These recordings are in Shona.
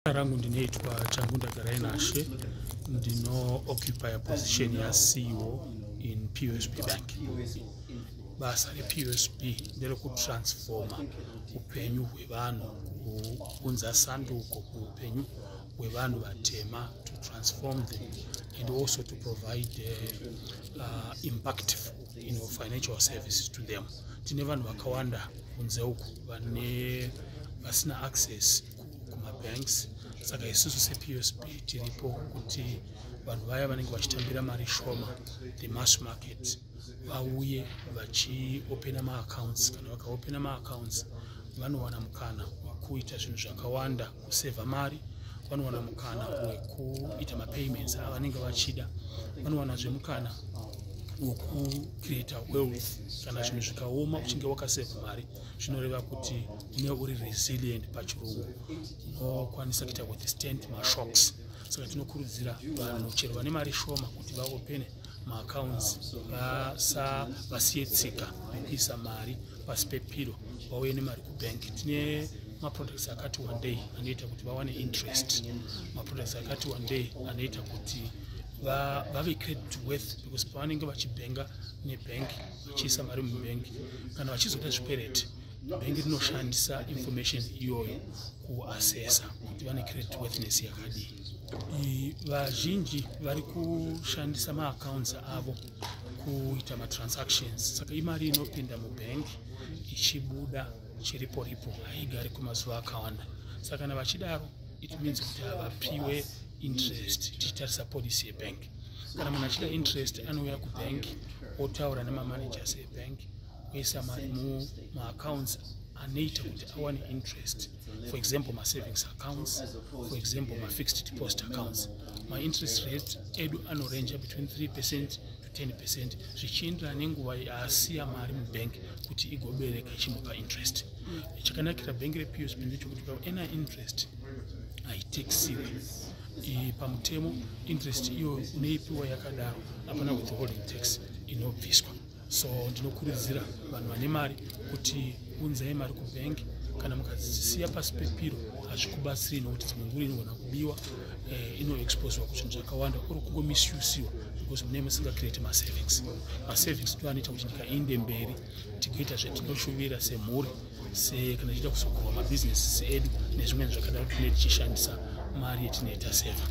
rangu ndinoitwa changu ndagarai nashe ndinooccupiya position yaceo in psb bank basa repsb nderekutransforma upenyu hwevanhu kuunza sanduko kuupenyu hwevanhu vatema to transform them and also to provide uh, uh, impactful you know, financial services to them tine vanhu vakawanda kunze uku vane vasina access kumabanks saka isusu sepsb tiripo kuti vanhu vaya vanenge vachitambira mari shoma the mass market vauye vachiopena maaccounts kana vakaopena maaccounts vanowana mukana wekuita zvinhu zvakawanda kusevha mari vanowana mukana wekuita mapayments avanenge vachida vanowana zvemukana wekucreata wealth kana zvinhu zvikaoma uchinge wakasevha mari zvinoreva kuti une uri resilient pachirungu unokwanisa kuita withstand mashocks saka tinokurudzira vanhu chero vane mari shoma kuti vaopene maaccounts vasa vasiye tsika vekuisa mari pasi pepiro vauye nemari kubank tine maproducts akati one day anoita kuti vawane interest maproducts akati one day anoita kuti vave credit worth because pavanenge vachibhenga nebank vachiisa mari mubhengi kana vachizoda zvikwereti bhengi rinoshandisa information iyoyo kuasesa kuti vane credit worthiness yakadii vazhinji vari kushandisa maaccounts avo kuita matransactions saka imari inopinda mubhengi ichibuda chiripo ripo haigari kwemazuva akawanda saka kana vachidaro it means kuti havapiwe interest tichitarisa policy yebank kana munhu achida interest anouya kubank otaura nemamanagers ebank oisa mari mumaaccounts anoita kuti awane interest for example masavings accounts for example mafixed deposit accounts mainterest rate edu anoranger between 3 percent to 10 percent zvichienderana nenguva yaasiya mari mubank kuti igobereka ichimupa interest chakanakira bhengi repsb ndechekuti paena interest haitexiwe pamutemo interest iyo unoipiwa yakadaro hapana withholding tax inobviswa so ndinokurudzira vanhu vane mari kuti unzai mari kubank kana mukazisiya pasi pepiro hazvikubatsiri nokuti dzimwe nguri inogona kubiwa eh, inoexposwa kuzvinhu zvakawanda or kungomishusiwa because mune musingacreate masavings masavings ndo anoita kuti nyika iinde mberi tigoita zvatinoshuvira semhuri se kana tichida kuzokurwa mabhizinesi edu nezvimweni zvakadaro tinee tichishandisa mari yetinee taseva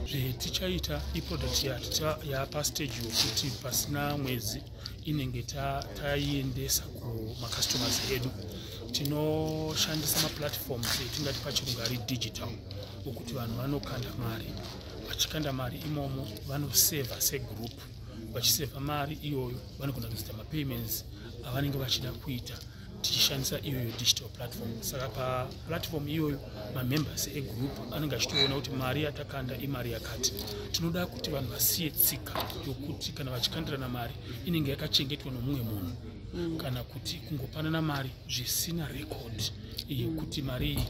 zvetichaita iproduct yaticha yapastage yokuti pasina mwedzi inenge taiendesa kumacustomers edu tinoshandisa maplatforms etingati pachirungu ari digital okuti vanhu vanokanda mari vachikanda mari imomo vanoseva segroup vachiseva mari iyoyo vanogona kuzoita mapayments avanenge vachida kuita tichishandisa iyoyo digital platform saka paplatform iyoyo mamembers egroup anenge achitoona kuti mari yatakanda imari yakati tinoda kuti vanhu vasiye tsika yokuti kana vachikandirana mari inenge yakachengetwa nomumwe munhu mm. kana kuti kungopanana mari zvisina rekodi yekuti mari iyi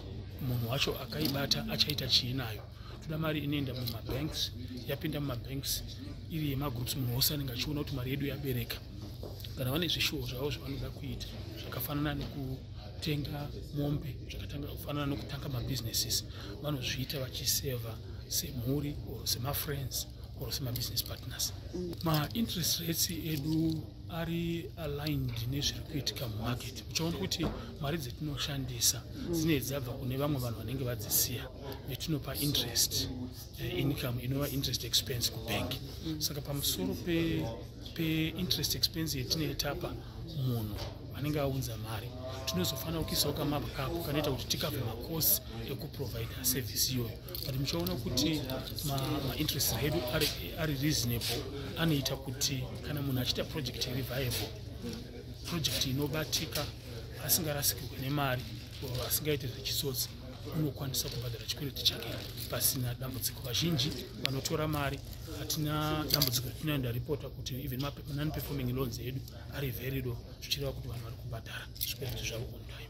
munhu wacho akaibata achaita chii nayo toda mari inoenda mumabanks yapinda mumabanks iri yemagroups munhu wose anenge achiona kuti mari yedu yabereka kana vane zvishuwo zvavo zvavanoda kuita zvakafanana nekutenga mombe zvakafanana nokutanga mabusinesses vanozviita vachiseva semhuri or semafriends or semabusiness partners mm. mainterest rates edu ari aligned nezviri kuitika mumarket uchaona kuti mari dzetinoshandisa mm. dzinei dzabva kune vamwe vanhu vanenge vadzisiya yatinopa interest uh, income inova interest expense kubank mm. saka pamusoro peinterest pe expense yatinetapa munhu anenge aunza mari tinozofanira kuisawo kamabwa kako kanoita kuti tikave makosi ekuprovider service iyoyo but muchaona kuti mainterest ma edu ari, ari reasonable anoita kuti kana munhu achiita project iri viable project inobatika asingarasikirwe nemari asingaite zvechitsotsi unokwanisa kubhadhara chikwereti chake pasina dambudziko vazhinji vanotora mari hatina dambudziko rina ndaripota kuti even manon performing loans edu ari very low zvichireva kuti vanhu vari kubhadhara zvikwereti zvavo on time